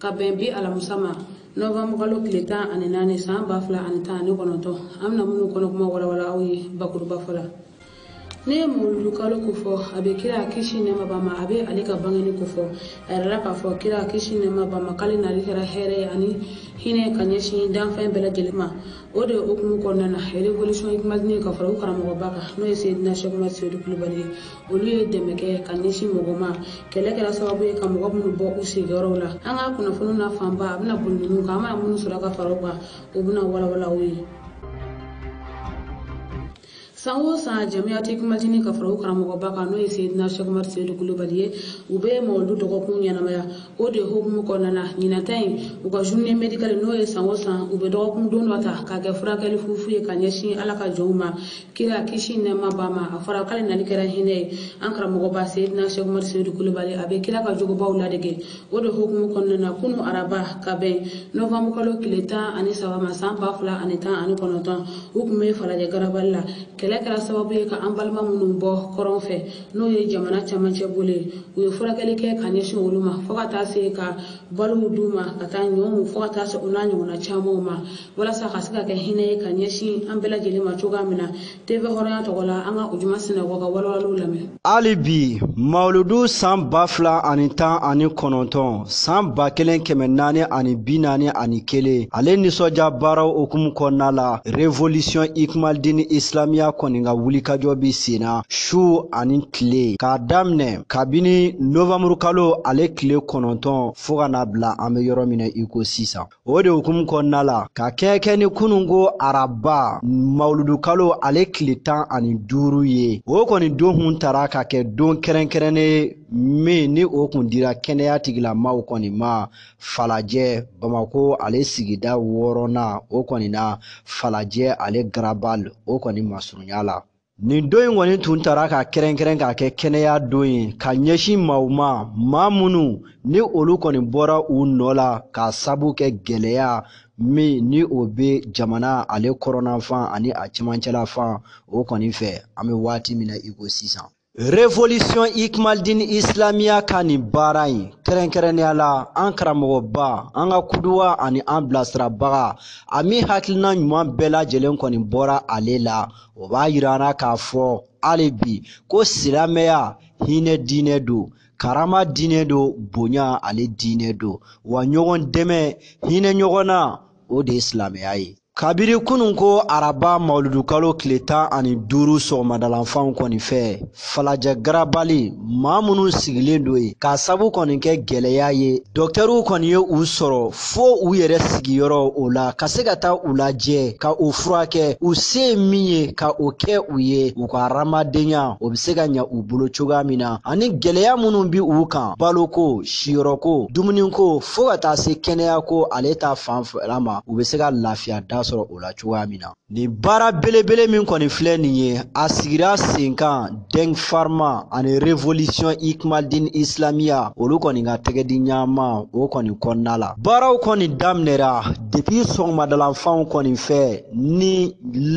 ka bɛn bi alamusa ma nɔvanbu kalo tile tan ani naani san ba fila ani tan ani kɔnɔntɔn an bɛna minnu kɔnɔ kuma walawala aw ye bakuruba fɔ la n'i ye mawuludu kalo kofɔ a bɛ kira kisi nɛɛma b'a ma a bɛ ale ka bangeni kofɔ a yirala k'a fɔ kira kisi nɛɛma b'a ma k'ale nali kɛra hɛrɛ ye ani hinɛ ka ɲɛsin danfɛn bɛɛ lajɛlen ma o de hukumu kɔnɔna na revolution ikmaldin ka fara u karamɔgɔba kan n'o ye seyidina sɛk umar seyidu kulubali ye olu ye dɛmɛ kɛ ka ɲɛsin mɔgɔw ma kɛlɛ kɛra sababu ye ka mɔgɔ minnu bɔ u sigiyɔrɔw la an ka kunnafoni na fanba a bɛna boli ninnu kan an bɛna minnu sɔrɔ ka fara u kan u bɛna walawala aw ye san o san jamiyatu ikmaldin ka fara u karamɔgɔba kan n'o ye seyidina sɛk umar seyidu kulubali ye u bɛ mawuludu dɔgɔkun ɲɛnamaya o de hukumu kɔnɔna na ɲinan ta in u ka journée médicale n'o ye san o san u bɛ dɔgɔkun don dɔ ta k'a kɛ furakɛli fufu ye ka ɲɛsin ala ka jɔnw ma kira kisi nɛɛma b'a ma a fɔra k'ale nali kɛra hinɛ ye an karamɔgɔba seyidina sɛk umar seyidu kulubali a bɛ kira ka jogobaw ladege o de hukumu kɔnɔna na kunun araba ka bɛn nɔvanbu kalo tile tan ani saba ma san ba fila ani tan ani kɔnɔntɔn u tun bɛ falajɛ garabali la kɛlɛ kɛra sababu ye ka an balima minnu bɔ kɔrɔn fɛ n'o ye jamana camancɛ bolo ye u ye furakɛli kɛ ka ɲɛsin olu ma fɔɔ ka taa se ka balow d'u ma ka taa ɲɔw fɔɔ ka taa se o n'a ɲɔgɔnna camanw ma walasa ka se ka kɛ hinɛ ye ka ɲɛsin an bɛɛ lajɛlen ma cogoya min na tv hɔrɔnya tɔgɔ la an ka ujuma sinɛgɔ ka walawaliw lamɛn hali bi mawuludu san ba fila ani tan ani kɔnɔntɔn san ba kelen kɛmɛ naani ani bi naani ani kelen ale nisɔndiya baaraw hukumu kɔnɔna la revolisiɔn ikmaldini isilamiya kɔni ka wulikajɔ bɛ senna su ani tile k'a daminɛ kabini novanburukalo ale tile kɔnɔntɔn fɔɔ ka na bila an bɛ yɔrɔ min na i ko sisan o de hukumu kɔnɔna la ka kɛɲɛ kɛ ni kununko araba mawuludukalo ale tile tan ani duuru ye o kɔni don tun tara ka kɛ don kɛrɛnkɛrɛnnen min ni o kun dira kɛnɛya tigilamaw kɔni ma falajɛ bamako ale sigida wɔɔrɔnan o kɔni na falajɛ ale garabal o kɔni masurunya la nin don in kɔni tun tara ka kɛrɛnkɛrɛn k'a kɛ kɛnɛya don ye ka ɲɛsin maaw ma maa minnu ni olu kɔni bɔra u nɔ la k'a sabu kɛ gɛlɛya min ni o bɛ jamana ale kɔrɔnanfan ani a cɛmancɛla fan o kɔni fɛ an bɛ waati min na i ko sisan Révolution Ikmaldin Islamiya ka nin baara in kɛrɛnkɛrɛnnenya la an karamɔgɔba an ka kuduwa ani an bilasirabaga a min hakilina ɲuman bɛɛ lajɛlen kɔni bɔra ale la o b'a yira an na k'a fɔ hali bi ko silamɛya hinɛ diinɛ don karama diinɛ don bonya ale diinɛ don wa ɲɔgɔn dɛmɛ hinɛ ɲɔgɔn na o de ye silamɛya ye kabiri kunun ko araba mawuludukalo tile tan ani duuru sɔgɔmadalanfanw kɔni fɛ falajɛ garabali maa minnu sigilen don yen k'a sabu kɔni kɛ gɛlɛya ye dɔktɛriw kɔni ye u sɔrɔ fo u yɛrɛ sigiyɔrɔ o la ka se ka taa u lajɛ ka u furakɛ u se ye min ye ka o kɛ u ye u ka hadamadenya o bɛ se ka ɲa u bolo cogoya min na ani gɛlɛya minnu bi u kan baloko siyɔrɔko dumuniko fɔɔ ka taa se kɛnɛyako ale ta fan fɛla ma u bɛ se ka lafiya da sɔrɔ o la cogoya min na Nin baara belebele min kɔni filɛ nin ye a sigira sen kan Denk Pharma ani Revolution Ikmaldin Islamiya olu kɔni ka tɛgɛdiɲɔgɔnma o kɔni kɔnɔna la baaraw kɔni daminɛra depi sɔgɔmadalanfanw kɔni fɛ ni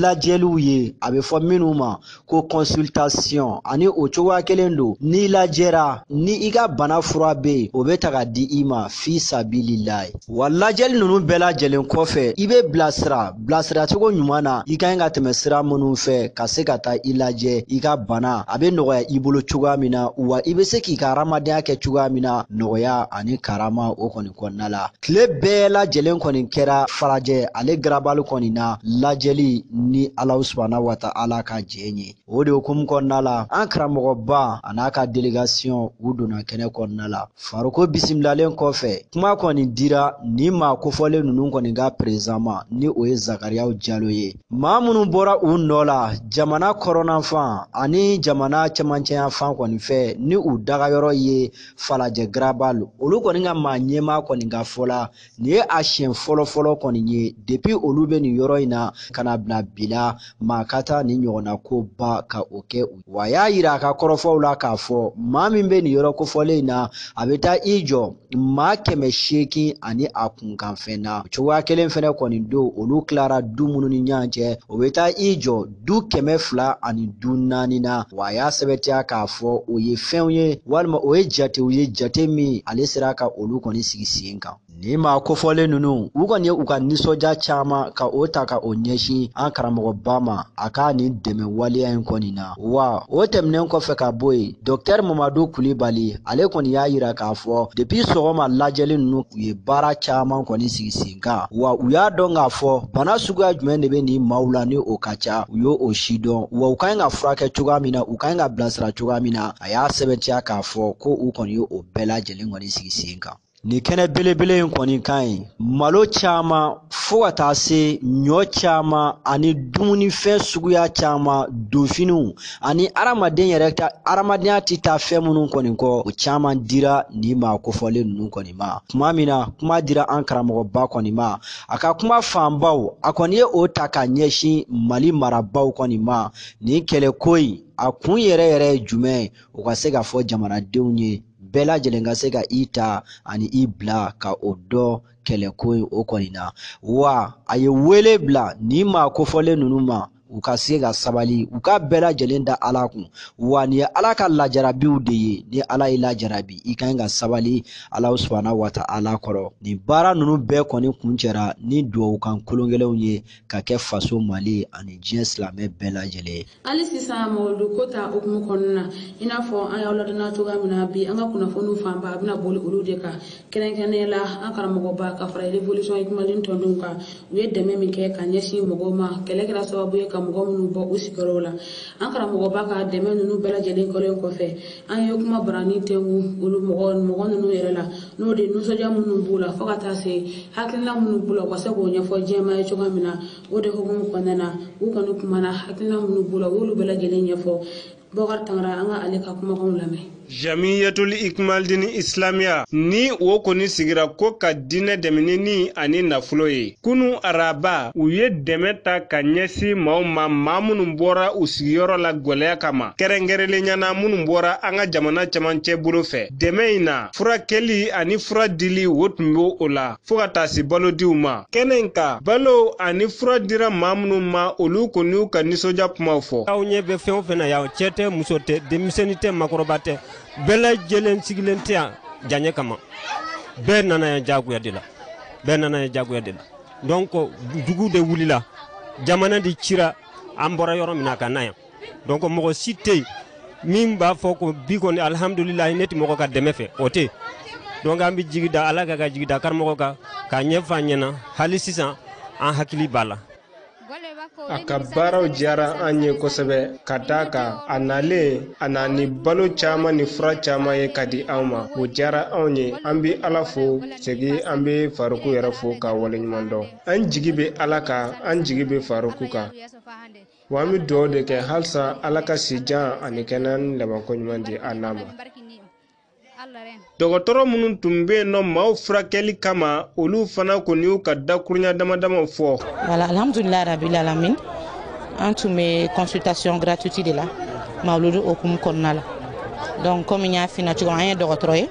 lajɛliw ye a bɛ fɔ minnu ma ko consultation ani o cogoya kelen don n'i lajɛra ni i ka bana fura bɛ yen o bɛ ta ka di i ma fi sabililayi wa lajɛli ninnu bɛɛ lajɛlen kɔfɛ i bɛ bilasira bilasiracogo ɲuman na i ka ɲi ka tɛmɛ sira minnu fɛ ka se ka taa i lajɛ i ka bana a bɛ nɔgɔya i bolo cogoya min na wa i bɛ se k'i ka hadamadenya kɛ cogoya min na nɔgɔya ani karama o kɔni kɔnɔna la Tile bɛɛ lajɛlen kɔni kɛra falajɛ ale garabali kɔni na lajɛli ni alahu subana wa taala ka jɛn ye o de hukumu kɔnɔna la an karamɔgɔba a n'a ka delegasiyɔn u donna kɛnɛ kɔnɔna la faruku bisimilalen kɔfɛ kuma kɔni dira nin maa kofɔlen ninnu kɔni ka perezidan ma ni o ye zakariyaw jalo ye maa minnu bɔra u nɔ la jamana kɔrɔnanfan ani jamana cɛmancɛyafan kɔni fɛ ni u dagayɔrɔ ye falajɛ garabali olu kɔni ka maa ɲɛmaa kɔni ka fɔ la nin ye a siɲɛ fɔlɔfɔlɔ kɔni ye depi olu bɛ nin yɔrɔ in na ka n'a bila bi la maa ka taa nin ɲɔgɔnna ko ba ka o kɛ u ye wa a y'a yira a ka kɔrɔfɔw la k'a fɔ maa min bɛ nin yɔrɔ kofɔlen in na a bɛ taa i jɔ maa kɛmɛ seegin ani a kunkanfɛn na cogoya kelen fɛnɛ kɔni don olu tilara du minnu ni ɲɔgɔn cɛ o bɛ taa i jɔ du kɛmɛ fila ani du naani na wa a y'a sɛbɛtiya k'a fɔ o ye fɛnw ye walima o ye jatew ye jate min ale sera ka olu kɔni sigi sen kan Nin maa kofɔlen ninnu u kɔni ye u ka nisɔndiya caman ka o ta ka o ɲɛsin an karamɔgɔba ma a ka nin dɛmɛ waleya in kɔni na wa o tɛmɛnen kɔfɛ ka bɔ yen dɔktɛri mamadu kulibali ale kɔni y'a yira k'a fɔ depi sɔgɔma lajɛli ninnu u ye baara caman kɔni sigi sen kan wa u y'a dɔn k'a fɔ bana suguya jumɛn de bɛ nin maaw la ni o ka ca u y'o aussi dɔn wa u ka ɲi ka furakɛ cogoya min na u ka ɲi ka bilasira cogoya min na a y'a sɛbɛntiya k'a fɔ ko u kɔni ye o bɛɛ lajɛlen kɔni sigi sen kan nin kɛnɛ belebele in kɔni ka ɲi malo caman fo ka taa se ɲɔ caman ani dumunifɛn suguya caman donfiniw ani adamaden yɛrɛ ka adamadenya tɛ taa fɛn minnu kɔni kɔ o caman dira nin maa kofɔlen ninnu kɔni ma kuma min na kuma dira an karamɔgɔba kɔni ma a ka kuma fanbaw a kɔni ye o ta ka ɲɛsin mali marabaw kɔni ma nin kɛlɛko in a kun yɛrɛ yɛrɛ ye jumɛn ye u ka se ka fɔ jamanadenw ye bɛɛ lajɛlen ka se ka i ta ani i bila ka o dɔn kɛlɛko in o kɔni na wa a ye wele bila nin maa kofɔlen ninnu ma u ka se ka sabali u ka bɛɛ lajɛlen da ala kun wa nin ye ala ka lajarabiw de ye ni ala y'i lajarabi i ka ɲi ka sabali ala subahana wa ta'ala kɔrɔ nin baara ninnu bɛɛ kɔni kuncɛra ni duwawukan kologɛlɛnw ye ka kɛ faso mali ani diɲɛ silamɛ bɛɛ lajɛlen ye hali sisan mawuludu ko ta hukumu kɔnɔna na i n'a fɔ an y'aw ladɔnna cogoya min na bi an ka kunnafoniw fanba a bɛna boli olu de kan kɛrɛnkɛrɛnnenya la an karamɔgɔba ka fara révolution hikmaldin tɔndenw kan u ye dɛmɛ min kɛ ka ɲɛsin mɔgɔw ma kɛlɛ kɛra sababu ye ka mɔgɔ minnu bɔ u sigiyɔrɔw la an karamɔgɔba ka dɛmɛ ninnu bɛɛ lajɛlen kɛlen kɔfɛ an ye kumabarani tɛngu olu mɔgɔ mɔgɔ ninnu yɛrɛ la n'o de nisɔndiya minnu b'u la fo ka taa se hakilina minnu b'u la u ka se k'o ɲɛfɔ diɲɛmaa ye cogoya min na o de hukumu kɔnɔna na u kɔni kumana hakilina minnu b'u la u y'olu bɛɛ lajɛlen ɲɛfɔ Bɔkar Kamara an ka ale ka kumakanw lamɛn. Jamiyatul Hikmaldin Islamiya ni o kɔni sigira ko ka diinɛ dɛmɛ ni ni ani nafolo ye. Kunu araba u ye dɛmɛ ta ka ɲɛsin maaw ma maa minnu bɔra u sigiyɔrɔ la gwɛlɛya kama, kɛrɛnkɛrɛnnenya na minnu bɔra an ka jamana camancɛ bolo fɛ. Dɛmɛ in na, furakɛli ani fura dili o tun b'o la. fo ka taa se balodiw ma. Kɛnɛ in kan, balow ani fura dira maa minnu ma, olu kɔni y'u ka nisɔndiya kumaw fɔ. Aw ɲɛ bɛ fɛn o fɛn na yan, cɛ tɛ, muso tɛ, denmisɛnni tɛ, makɔrɔba tɛ, bɛɛ lajɛlen sigilen tɛ yan jaɲɛ kama. Bɛɛ nana yan jagoya de la. Bɛɛ nana yan jagoya de la. Donc dugu de wulila, jamana de cira, an bɔra yɔrɔ min na ka na yan. donc mɔgɔ si tɛ yen min b'a fɔ ko bi kɔni alihamudulilayi ne tɛ mɔgɔ ka dɛmɛ fɛ o tɛ donc an bɛ jigi da ala kan ka jigi da karamɔgɔ kan k'a ɲɛfɔ an ɲɛna hali sisan an hakili b'a la a ka baaraw diyara an ye kosɛbɛ ka d'a kan a nalen a nana ni balo caman ni fura caman ye ka di anw ma o diyara anw ye an bɛ ala fo segi an bɛ faruku yɛrɛ fo k'a waleɲuman dɔn an jigi bɛ ala kan an jigi bɛ faruku kan Wa an bɛ dugawu de kɛ halisa Ala ka si jan ani kɛnɛya ni labanko ɲuman di an n'a ma. Dɔgɔtɔrɔ minnu tun bɛ yen nɔ maaw furakɛli kama, olu fana kɔni y'u ka dakurunya damadama fɔ. Voilà, alhamdulilayi rabil alamin an tun bɛ consultation gratuite de la mawuludu hukumu kɔnɔna la. Donc comme n y'a f'i ɲɛna cogo min, an ye dɔgɔtɔrɔ ye,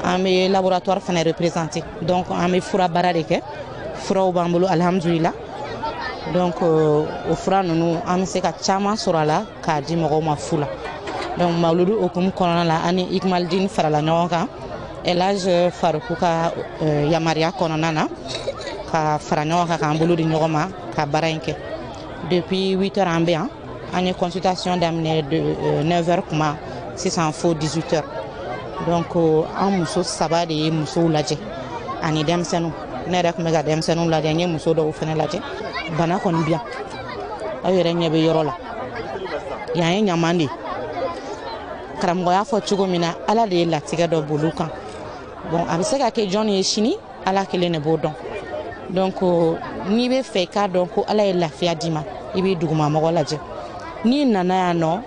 an bɛ laboratoire fana représenter donc an bɛ fura baara de kɛ, furaw b'an bolo alhamdulilayi. donc euh, o fura ninnu an bɛ se ka caman sɔrɔ a la k'a di mɔgɔw ma fu la donc mawuludu hukumu kɔnɔna la an ni ikmalidini farala ɲɔgɔn kan elhaji euh, faruku ka euh, yamaruya kɔnɔna na ka fara ɲɔgɔn kan k'an bolo di ɲɔgɔn ma ka baara in kɛ depuis 8 heures an bɛ yan an ye consultation daminɛ 9 heures kuma sisan fo 18 heures donc euh, an muso saba de ye musow lajɛ ani denmisɛnninw ne yɛrɛ tun bɛ ka denmisɛnninw lajɛ n ye muso dɔw fana lajɛ bana kɔni bi yan aw yɛrɛ ɲɛ bɛ yɔrɔ la yan ye ɲaman de ye karamɔgɔ y'a fɔ cogo min na ala de y'a latigɛ dɔ bolo kan bon a bɛ se ka kɛ jɔn ye sini ala kelen de b'o dɔn donc n'i b'a fɛ k'a dɔn ko ala ye lafiya d'i ma i b'i dugumamɔgɔ lajɛ n'i nana yan nɔ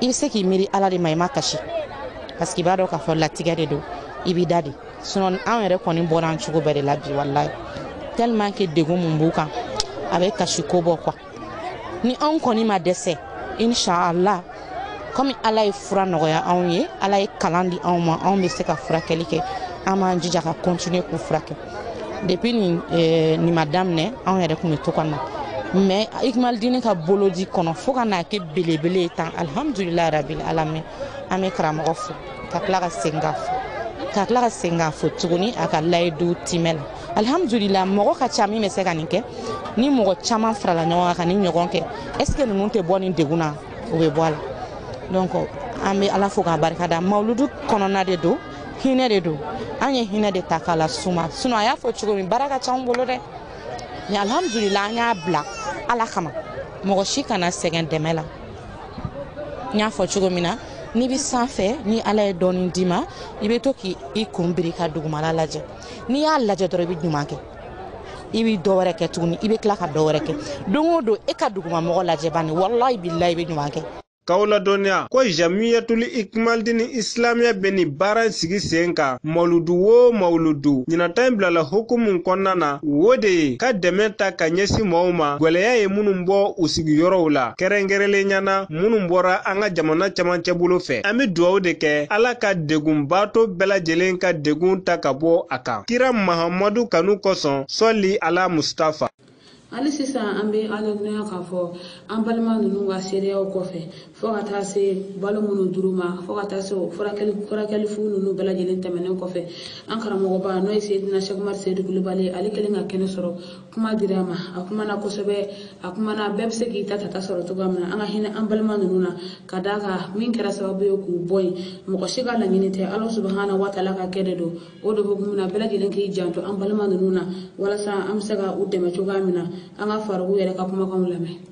i bɛ se k'i miiri ala de ma i ma kasi parce que i b'a dɔn k'a fɔ latigɛ de don i b'i da de sinon anw yɛrɛ kɔni bɔra an cogo bɛɛ de la bi walayi tellement que degun mun b'u kan a bɛ kasi ko bɔ quoi ni anw kɔni ma dɛsɛ inshallah komi ala ye fura nɔgɔya anw ye ala ye kalan di anw ma anw bɛ se ka furakɛli kɛ an b'an jija ka kɔntine k'u furakɛ depuis nin eh, nin ma daminɛ anw yɛrɛ tun bɛ to ka na mais ikimalidini ka bolodi kɔnɔ fo ka n'a kɛ belebele ye tan alhamdulilayi rabil alamin an bɛ karamɔgɔ fo ka tila ka segin k'a fo ka tila ka segin k'a fo tuguni a ka layidu timɛ la alhamdulila mɔgɔ ka ca min bɛ se ka nin kɛ ni mɔgɔ caman farala ɲɔgɔn kan ka nin ɲɔgɔn kɛ est ce que ninnu tɛ bɔ nin degun na u bɛ bɔ a la donc an bɛ ala fo k'a barika da mawuludu kɔnɔna de don hinɛ de don an ye hinɛ de ta k'a lase u ma sinon a y'a fɔ cogo min baara ka ca anw bolo dɛ mais alhamdulila an y'a bila ala kama mɔgɔ si kana sɛgɛn dɛmɛ la n y'a fɔ cogo min na n'i bɛ sanfɛ ni ala ye dɔɔni d'i ma i bɛ to k'i kun biri ka dugumala lajɛ n'i y'a lajɛ dɔrɔn i bɛ ɲuman kɛ i bɛ dɔ wɛrɛ kɛ tuguni i bɛ tila ka dɔ wɛrɛ kɛ don o don e ka dugumamɔgɔ lajɛ bani walayi bilayi i bɛ ɲuman kɛ K'aw ladɔnniya ko Jamiyatuli Ikmalidini Isilamiya bɛ nin baara in sigi sen kan mawuludu o mawuludu ɲinan ta in bilala hukumu kɔnɔna na o de ye ka dɛmɛ ta ka ɲɛsin mɔgɔw ma gwɛlɛya ye minnu bɔ u sigiyɔrɔw la kɛrɛnkɛrɛnlenya na minnu bɔra an ka jamana camancɛ bolo fɛ an bɛ dugawu de kɛ ala ka degunbaatɔ bɛɛ lajɛlen ka degun ta ka bɔ a kan kira mahamadu kanu kosɔn sɔli ala mustafa hali sisan an bɛ aw ladɔnniya k'a fɔ an balima ninnu ka seereyaw kɔfɛ fo ka taa se balo minnu dir'u ma fo ka taa se o furakɛli furakɛli fu ninnu bɛɛ lajɛlen tɛmɛnen kɔfɛ an karamɔgɔba n'o ye seyidina sɛki umaru seyidu kulubali ale kɛlen ka kɛnɛ sɔrɔ kuma dira a ma a kumana kosɛbɛ a kumana bɛɛ bɛ se k'i ta ta ta sɔrɔ cogoya min na an ka hinɛ an balima ninnu na ka d'a kan min kɛra sababu ye k'u bɔ yen mɔgɔ si ka laɲini tɛ ala subahana watala ka kɛ de don o de hukumu na bɛɛ lajɛlen k'i janto an balima ninnu na walasa an bɛ se ka u dɛmɛ cogoya min na an ka faruku yɛrɛ ka kumakanw lamɛn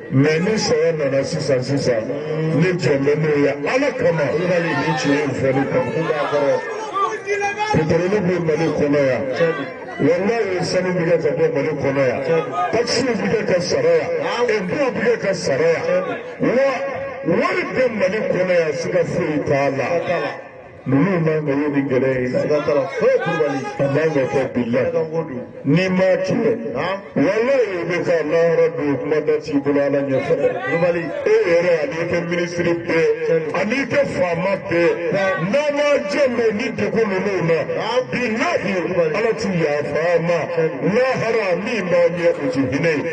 mɛ ni sɔrɔ nana sisan sisan ne jɔn bɛ n'o ye ala kama i ka nin ni tiɲɛ in fɔli kan ko b'a kɔrɔ petroli bɛ mali kɔnɔ yan walayi sanu bɛ kɛ ka bɔ mali kɔnɔ yan takisiw bɛ kɛ ka sara yan ɛnpow bɛ kɛ ka sara yan wa wari bɛ mali kɔnɔ yan siga foyi t'a la. ninnu man ka ye nin gɛlɛya in na siga t'a la foyi kulubali a man ka kɛ bilahi ne ka n ko don n'i ma kɛ naam walayi i bɛ ka lahara don kuma da t'i bolo ala ɲɛfɛ dɛ kulubali e yɛrɛ an'i ka minisiri bɛɛ an'i ka faama bɛɛ n'a ma janto ni degun ninnu na bilahi ala ti yafa a ma lahara min b'a ɲɛ o ti hinɛ ye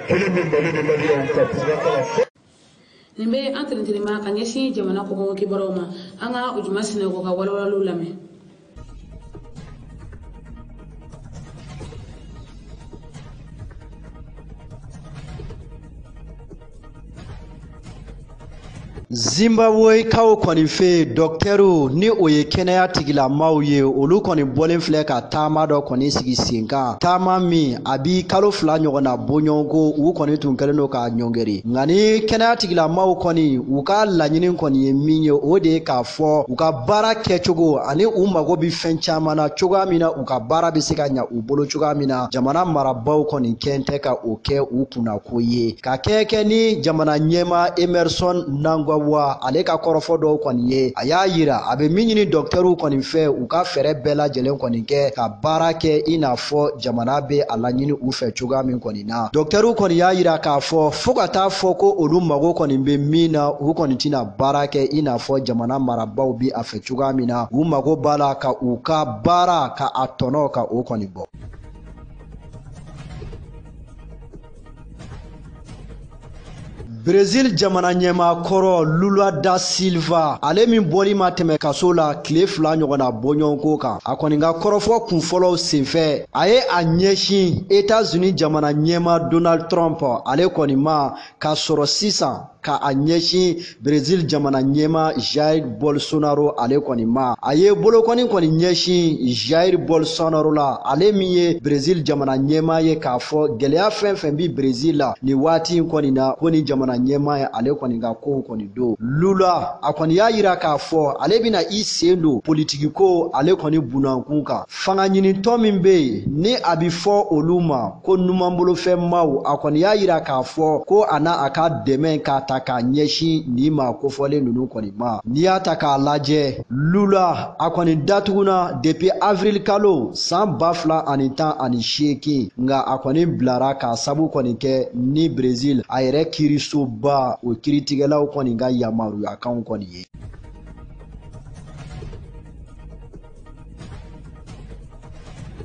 kelen bɛ mali ni maliyɛnw ka kunnafoni fɔ nin bɛ an tɛnɛntɛnɛma ka ɲɛsin jamana kɔkan kibaruyaw ma an ka ujuma sinɛgɔ ka walawalaliw lamɛn zimbabwekaw kɔni fɛ dɔktɛriw ni o ye kɛnɛya tigilamaw ye olu kɔni bɔlen filɛ ka taama dɔ kɔni sigi sen kan taama min a bi kalo fila ɲɔgɔnna bɔɲɔgɔnko u kɔni tun kɛlen don k'a ɲɔngeri nka ni kɛnɛya tigilamaw kɔni u ka laɲini kɔni ye min ye o de ye k'a fɔ u ka baara kɛcogo ani u mago bɛ fɛn caman na cogoya min na u ka baara bɛ se ka ɲa u bolo cogoya min na jamana marabaaw kɔni kɛn tɛ ka o kɛ u kunna ko ye ka kɛɲɛ kɛ ni jamana ɲɛmaa emmerson mnangagwa ale ka kɔrɔfɔ dɔw kɔni ye a y'a yira a bɛ min ɲini dɔktɛriw kɔni fɛ u ka fɛɛrɛ bɛɛ lajɛlen kɔni kɛ ka baara kɛ i n'a fɔ jamana bɛ a laɲini u fɛ cogoya min kɔni na dɔktɛriw kɔni y'a yira k'a fɔ fo ka taa fɔ ko olu mago kɔni bɛ min na u kɔni tɛna baara kɛ i n'a fɔ jamana marabaw bi a fɛ cogoya min na u mago b'a la ka u ka baara ka a tɔnɔ ka o kɔni bɔ Brezil jamana ɲɛmaa kɔrɔ Lula da Silva ale min bɔli ma tɛmɛ kaso la tile fila ɲɔgɔnna bɔɲɔgɔnko kan a kɔni ka kɔrɔfɔ kunfɔlɔw senfɛ a ye a ɲɛsin Etats-Unis jamana ɲɛmaa Donald Trump ale kɔni ma k'a sɔrɔ sisan ka a ɲɛsin Brezil jamana ɲɛmaa Jair Bolsonaro ale kɔni ma a ye bolokɔni kɔni ɲɛsin Jair Bolsonaro la ale min ye Brezil jamana ɲɛmaa ye k'a fɔ gɛlɛya fɛn fɛn bi Brezil la nin waati in kɔni na ko ni jamana ɲɛmaa ye ale kɔni ka kow kɔni don Lula a kɔni y'a yira k'a fɔ ale bɛna i sen don politiki ko ale kɔni bunankun kan fangaɲinitɔn min bɛ yen ni a bi fɔ olu ma ko numanbolofɛnmaw a kɔni y'a yira k'a fɔ ko a n'a a ka dɛmɛ k'a ta k'a ɲɛsin nin maa kofɔlen ninnu kɔni ma n'i y'a ta k'a lajɛ lula a kɔni datugunna depi avril kalo saan ba fila ani tan ani seegin nka a kɔni bilara k'a sabu kɔni kɛ ni brezil a yɛrɛ kirisoba o kiritigɛlaw kɔni ka yamaruyakanw kɔni ye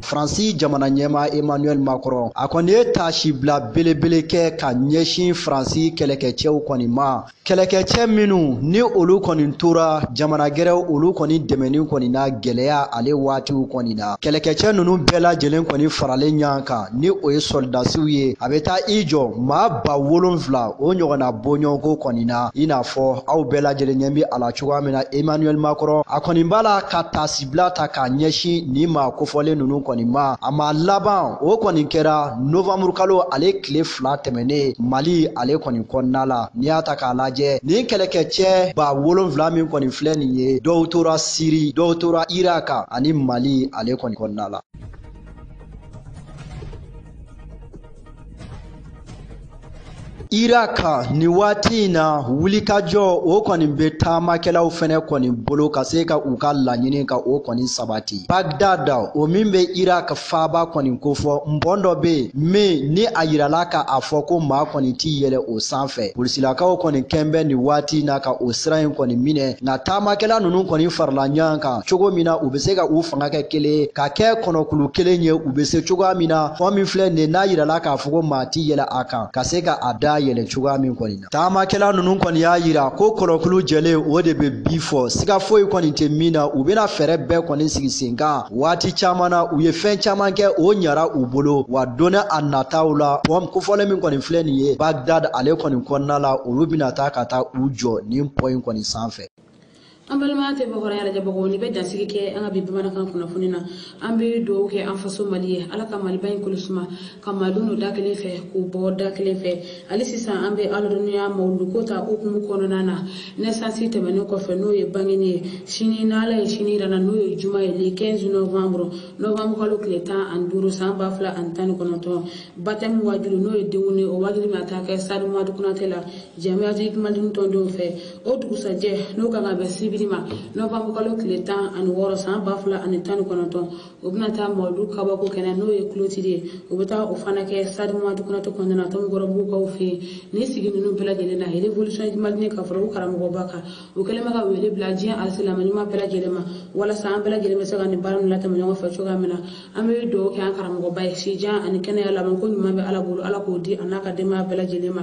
faransi jamana ɲɛmaa emmanuel macron a kɔni ye taasibila belebele kɛ ka ɲɛsin faransi kɛlɛkɛcɛw kɔni ma kɛlɛkɛcɛ minnu ni olu kɔni tora jamana gɛrɛw olu kɔni dɛmɛni kɔni na gwɛlɛya ale waatiw kɔni na kɛlɛkɛcɛ nunu bɛɛ lajɛlen kɔni faralen ɲɔgɔn kan ni o ye sɔlidasiw ye a be taa i jɔ maa ba wolonfila o ɲɔgɔnna bɔɲɔgɔnko kɔni na i n'a fɔ aw bɛɛ lajɛlen ɲɛ be a la cogoya min na Emmanuel Macron a kɔni b'a la ka taasibila ta k'a ɲɛsin nin maa kofɔlen ninnu kɔni ma a ma laban o kɔni kɛra novembre kalo ale tile fila tɛmɛnen Mali ale kɔni kɔnɔna la n'i y'a ta k'a lajɛ nin kɛlɛkɛcɛ ba wolonfila min kɔni filɛ nin ye dɔw tora Siri dɔw tora Irak ani Mali ale kɔni kɔnɔna la Irak nin waati in na wulikajɔ o kɔni bɛ taamakɛlaw fɛnɛ kɔni bolo ka se ka u ka laɲini ka o kɔni sabati Baghdad o min bɛ Irak faaba kɔni kofɔ pɔn dɔ bɛ yen min ni a yirala ka a fɔ ko maa kɔni t'i yɛlɛ o sanfɛ polisilakaw kɔni kɛlen bɛ nin waati in na ka o sira in kɔni minɛ nka taamakɛla ninnu kɔni farala ɲɔgɔn kan cogo min na u bɛ se ka u fanga kɛ kelen ka kɛ kɔnɔkulu kelen ye u bɛ se cogoya min na pɔn min filɛ nin n'a yirala k'a fɔ ko maa t'i yɛlɛ a kan ka se ka a da yɛlɛ cogoya min kɔni na taamakɛla ninnu kɔni y'a yira ko kɔnɔkulu jɛlen o de bɛ bi fɔ siga foyi kɔni tɛ min na u bɛna fɛɛrɛ bɛɛ kɔni sigi sen kan waati caman na u ye fɛn caman kɛ o ɲara u bolo wa donni a nataw la pɔn kofɔlen min kɔni filɛ nin ye bagdad ale kɔni kɔnɔna la olu bɛna taa ka taa u jɔ nin pɔn in kɔni sanfɛ an balima tɛ bɔkɔrɔya lajɛbagaw nin bɛ dansigi kɛ an ka bi bamanankan kunnafoni na an bɛ dugawu kɛ an faso mali ye ala ka maliba in kolosuma ka malidenw don da kelen fɛ k'u bɔ da kelen fɛ hali sisan an bɛ aladɔnniya mawuludu ko ta hukumu kɔnɔna na nɛsansi tɛmɛnen kɔfɛ n'o ye bangeni ye sini n'ala ye sini yira an na n'o ye juma ye le 15 novembre novembre kalo tile tan ani duuru san ba fila ani tan ni kɔnɔntɔn batɛmu wajulu n'o ye denkundi o wajulu bɛna taa kɛ sadi madu kunatɛ la jamiyatu kumadini tɔndenw fɛ o dugusajɛ n'o kan ka bɛn sibiri ma nowanburukalo tile tan ani wɔɔrɔ san ba fila ani tan ni kɔnɔntɔn o bɛna taa mawuludu kabako kɛnɛ n'o ye clôture ye o bɛ taa o fana kɛ stade madu konate kɔnɔna na tomikɔrɔbugukaw fɛ yen ni sigi ninnu bɛɛ lajɛlen na révolution malienne ka fara u karamɔgɔba kan o kɛlen bɛ ka wele bila diɲɛ alisilamɛ ɲuman bɛɛ lajɛlen ma walasa an bɛɛ lajɛlen bɛ se ka nin baara ninnu latɛmɛ ɲɔgɔn fɛ cogoya min na an bɛ dugawu kɛ an karamɔgɔba ye sijan ani kɛnɛya labanko ɲuman bɛ ala bolo ala k'o di a n'a ka denbaya bɛɛ lajɛlen ma